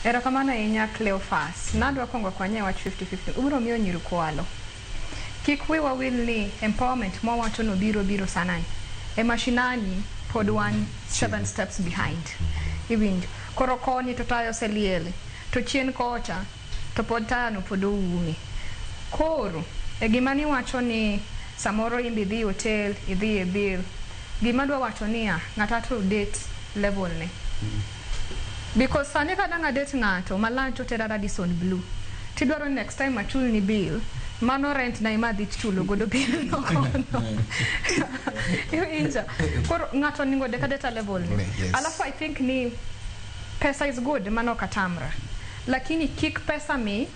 Erokamano ahinya Cleophas. Nadwa kongo akwanye wach 50-50. Ubiro miyo nyiru kwalo. Kik wiwa wil ni empowerment mwawacho no biro biro sanani. E mashinani pod wan seven steps behind. Iwinjo. Koro koni to taya oseliel. To chien kocha to pod taya no pod oumi. Koro e gima niwacho ni samoro imbe idhi hotel, idhi e bill. Gima adwa wacho niya, ng'ata to date level ne. Because sani ka dang' adate ng'ato malach to otera Radisson Blu to idwaro ni next time achulni bill, mano rent na ema adhi chulo godo bill no kono. Iwinja? Koro ng'ato onego odek adeta level ni. Yes. Alafu I think ni pesa is good, mano ok atamra. Lakini kik pesa mi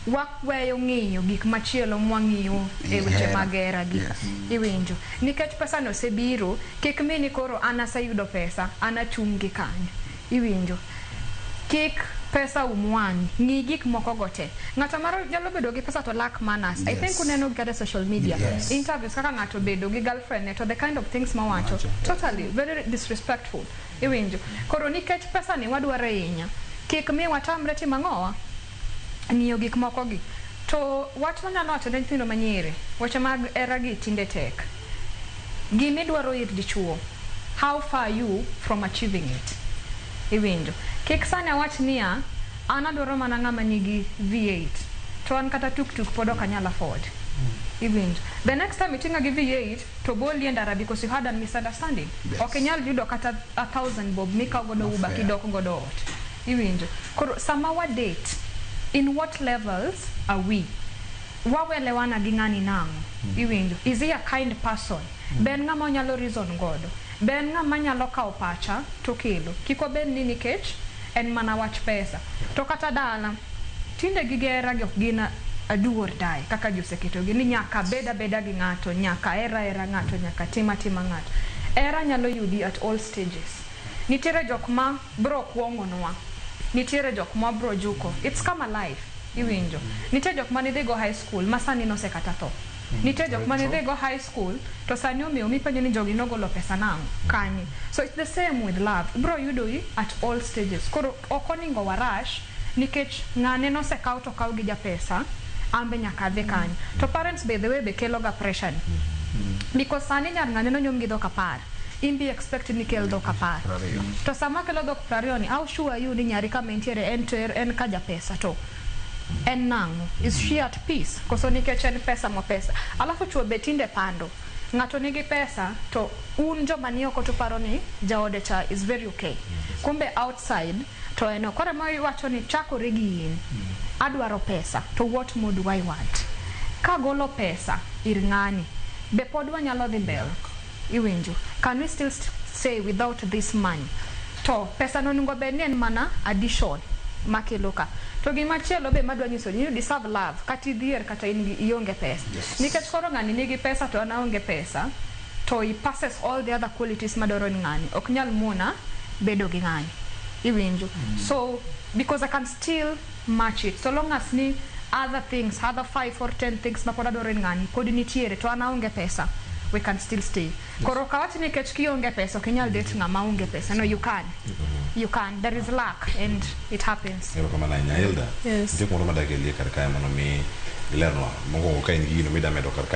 waweyo ng'iyo gik machielo mwang'iyo e weche mag hera gi. Iwinjo? Nikech pesa ni osebiro, kik mi ni koro an aseyudo pesa, an achung' gi kanyo. Iwinjo? Kik pesa um wang'i. Ng'i gik moko go te. Ng'ato maro nyalo bedo gi pesa to lack manners. I think uneno gi kata e social media. Interviews kaka ng'ato obedo gi girlfriend ne to the kind of things mowacho, totally very disrespectful. Iwinjo? Koro nikech pesani wadwaro ahinya, kik mi watamre timo ang'owa? Ng'iyo gik mokogi. To wach manyalo wacho ne nyithindo manyiri, weche mag heragi tinde tek. Gima idwaro ir dichuo, how far are you from achieving it? Iwinjo? Kik sani awach niya, an adwaro mana ng'ama nigi V8, to an kata tuk tuk pod ok anyal afford. Iwinjo? The next time iting'a gi V8, To boli e ndara because you had an misunderstanding. Yes. Ok inyal yudo kata a thousand bob mikaw godo Not uber fair. kidok godo ot. Iwinjo? Koro sama wa date, in what levels are we? Wawelewana gi ng'ani nang'o? Iwinjo? Is he a kind person? Be en ng'ama onyalo reason godo? Be en ng'ama nyalo kawo pacha tokelo? Kik wabed ni nikech En mana wach pesa. To kata dala. Tinde gige hera gi ok gin a do or die kaka ji oseketogi ni nyaka abed abeda gi ng'ato, nyaka aher ahera ng'ato, nyaka atim atima ng'ato. Hera nyalo yudi at all stages. Nitiere jok ma biro kuong'onwa, nitiere jok ma wabiro juko. It's come alive. Iwinjo. Nitie jok mane idhigo high school ma sani nosekata tho. Nitie jok mane idhi go high school to sani omewo mipenjo ni jogi nogolo pesa nang'o, kanye. So it's the same with love, ibiro yudoi at all stages. Koro ok oningo wa rush nikech ng'ane nosekaw to okaw gi japesa, an be nyaka adhi kanyo. To parents by the way be kelo ga pressure ni. Because sani nyar ng'ane nonyuom gi dhok apar, in be expect ni kel dhok apar. To sama kelo dhok prariyo ni, how sure are you ni nyari kama entiere en to en ka japesa to. En nang'o? Is she at peace? Koso nikech en pesa mo pesa. Alafu chuo be tinde pando. Ng'ato nigi pesa to un joma ni oko tuparo ni jaode cha is very okay. Kumbe outside to en ok. Koro ema iwacho ni chakore gi in. Adwaro pesa to what more do I want? Kagolo pesa ir ng'ani be pod wanyalo dhi mbele? iwinjo can we still st- say without this money to pesa no onego bed ni en mana addition makelo ka to gima chielo be madwa nyiso ni you deserve love kata idhier kata in gi- ionge pesa Yes. nikech koro ng'ani nigi pesa to an aonge pesa to he passes all the other qualities madwaro ni ng'ani ok nyal mona bedo gi ng'ani iwinjo so because i can still match it so long as ni other things other five or ten things ma pod adwaro en ng'ani pod nitiere to an aonge pesa we can still stay koro ok awach ni kech kionge pesa ok inyal date ng'ama onge pesa no you can you can there is luck and it happens erokamano ahinya elda Yes. nitie kumoro madakelie kar kae mondo mi ilernwa mokwongo ka in gi gino midamedo kar kae